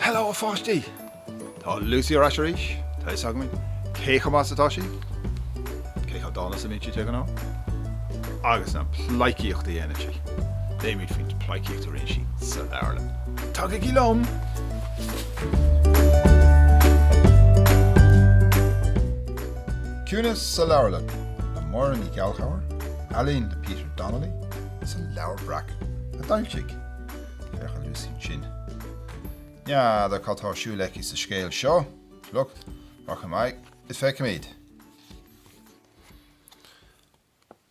Hello a pháistí! Tá Lucy ar ais arís. Tá a fhios againn cé chomh maith is atá sí. Cé chomh dána is a bhíonn sí de ghnáth? Agus an phleidhcíocht a dhéanann sí? Léimis faoin pleidhcíocht a rinne sí sa leabharlann. Tagaigí liom! Ciúnas sa Leabharlann le Máire Ní Ghallchobhair, ealaín le Peter Donnelly, is Leabhar Breac a d'fhoilsigh, féach ar Lucy ansin. N'fheadar cad tá ar siúl aici sa scéal seo, look, rachaimid is feicfimid.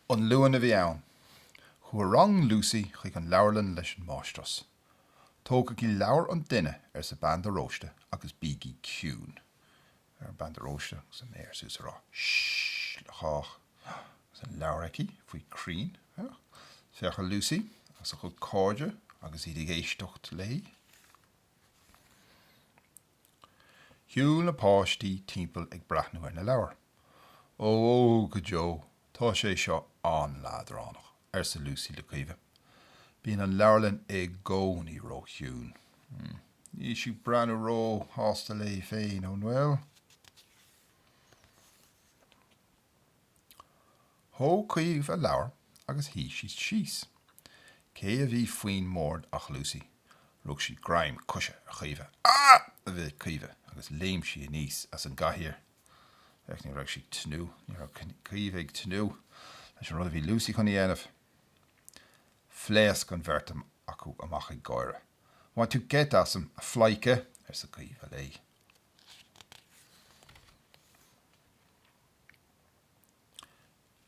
An Luan a bhí ann. Chuaigh rang Lucy chuig an leabharlann leis an máistreás. Tógaigí leabhar an duine, arsa bean de Róiste, agus bígí ciúin. Féach ar Bhean de Róiste agus a méar suas ag rá Sh-h-h-h le cách. Agus an leabhar aici faoi chrainn. Féach ar Lucy agus a cuid cairde agus iad ag éisteacht léi. Shiúil na páistí timpeall ag breathnú ar na leabhair. Ó, ó, go deo, tá sé seo an-leadránach, arsa Lucy le Caoimhe. Bíonn an leabharlann i gcónaí róchiúin. Níl sí ag breathnú róshásta léi féin, an bhfuil? Thóg Caoimhe leabhar agus shuigh sí síos. Cé a bhí faoin mbord ach Lucy. Rug sí greim coise ar Chaoimhe. Ah! a bhéic Caoimhe agus léim sí aníos as an gcathaoir. Féach, ní raibh sí ag tnúth, ní raibh Caoimhe ag tnúth leis an rud a bhí Lucy chun a dhéanamh. Phléasc an bheirt acu amach ag gáire. Bhain tú geit asam, a phleidhce! arsa Caoimhe léi.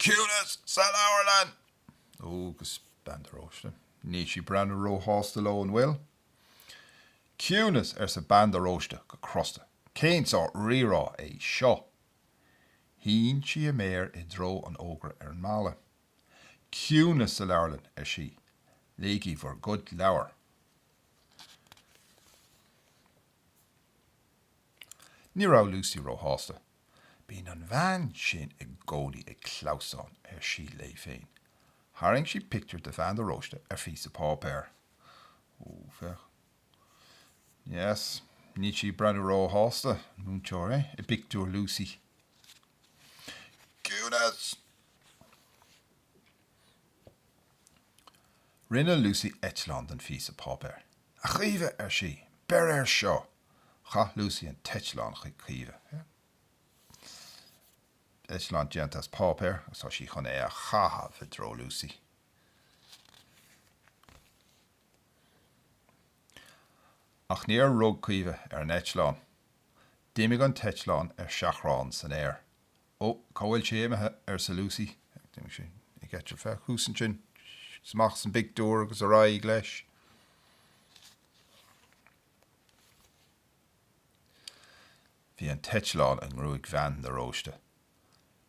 Ciúnas sa leabharlann! Ó, agus bean de Róiste, níl sí ag breathnú ró-shásta leo, an bhfuil? Ciúnas, arsa bean de Róiste go crosta. Cén sórt rírá é seo? Shín sí a méar i dtreo an fhógra ar an mballa. Ciúnas sa leabharlann, ar sí. Léigí bhur gcuid leabhar. Ní raibh Lucy ró-shásta. Bíonn an bhean sin i gcónaí ag clamhsán, ar sí léi féin. Tharraing sí pictiúr de Bhean de Róiste ar phíosa páipéir. Ó, féach. Yes. Níl sí ag breathnú róshásta, an múinteoir, eh? i bpictiúr Lucy. Ciúnas! Rinne Lucy eitleán den phíosa páipéir. A Chaoimhe, ar sí, beir air seo! Chaith Lucy an t-eitleán chuig Caoimhe. Eitleán déanta as páipéar agus tá sí chun é a chaitheamh i dtreo Lucy. Ach níor rug Caoimhe ar an eitleán. D'imigh an t-eitleán ar seachrán san aer. Ó, cá bhfuil sé imithe? arsa Lucy. D'imigh sé ag eitilt. Féach thuas ansin. Amach as an bpictiúr agus ar aghaidh leis. Bhí an t-eitleán i ngruaig Bhean de Róiste.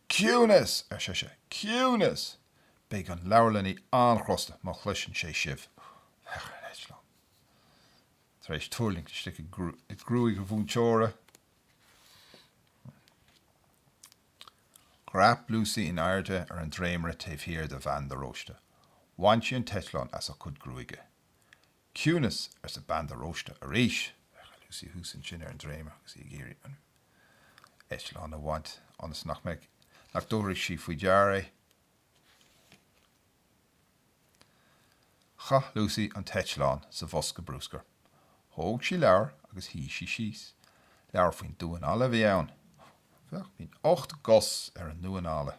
Ciúnas! ar sise. Ciúnas! Beidh an leabharlannaí an-chrosta má chloiseann sé sibh. Féach an t-eitleán. Tar éis tuirlingt istigh i gruaig a mhúinteora, dhreap Lucy in airde ar an dréimire taobh thiar de Bhean de Róiste. Bhain sí an t-eitleán as a cuid gruaige. Ciúnas, arsa bean de Róiste arís. Lucy thuas ansin ar an dréimire agus í ag iarraidh an eitleán a bhaint, ionas nach mbeidh, nach dtabharfaidh sí faoi deara é. Chaith Lucy an t-eitleán sa bhosca brúscair. Thóg sí leabhar agus shuigh sí síos. Leabhar faoin damhán alla a bhí ann. Féach, bíonn ocht gcos ar an ndamhán alla.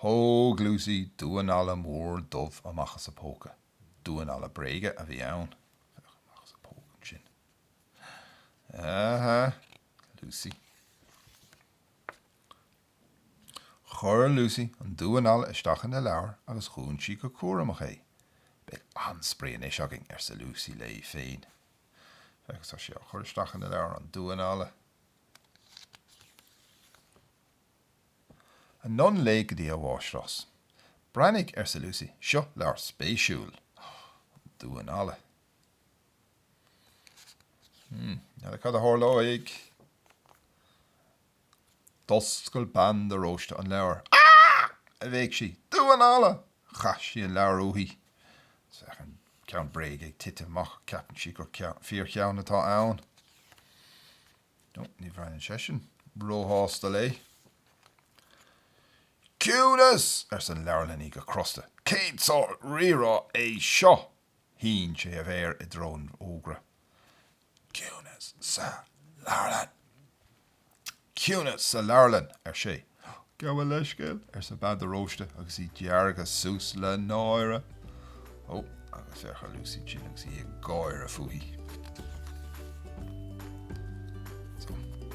Thóg Lucy damhán alla mór dubh amach as a póca. Damhán alla bréige a bhí ann. Amach as a póca ansin. Aha! Lucy. Chuir Lucy an damhán alla isteach ina leabhar agus dhún sí go cúramach é. Beidh an-spraoi anois againn, arsa Lucy léi féin. Féach, tá sí á chur isteach ina leabhar, an damhán alla. Anonn léi go dtí an mháistreás. Breathnaigh, arsa Lucy, seo leabhar spéisiúil. Damhán alla. Hmm, n'fheadar cad a tharlóidh? D'oscail bean de Róiste an leabhar. Ah! a bhéic sí. Damhán alla! Chaith sí an leabhar uaithi. Is bheadh an Ceann bréige ag titim amach, ceapann sí gur fíorcheann atá ann. No, ní fhéachann seisean róshásta léi. Ciúnas! arsa an leabharlannaí go crosta. Cén sórt rírá é seo? Shín sé a mhéar i dtreo an fhógra. Ciúnas sa leabharlann! Ciúnas sa leabharlann! ar sé. Gabh mo leithscéal, arsa Bean de Róiste agus í deargtha suas le náire. Ó, agus féach ar Lucy ansin agus í ag gáire fúithi.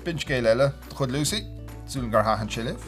B'in scéal eile de chuid Lucy, súil agam gur thaitin sé libh.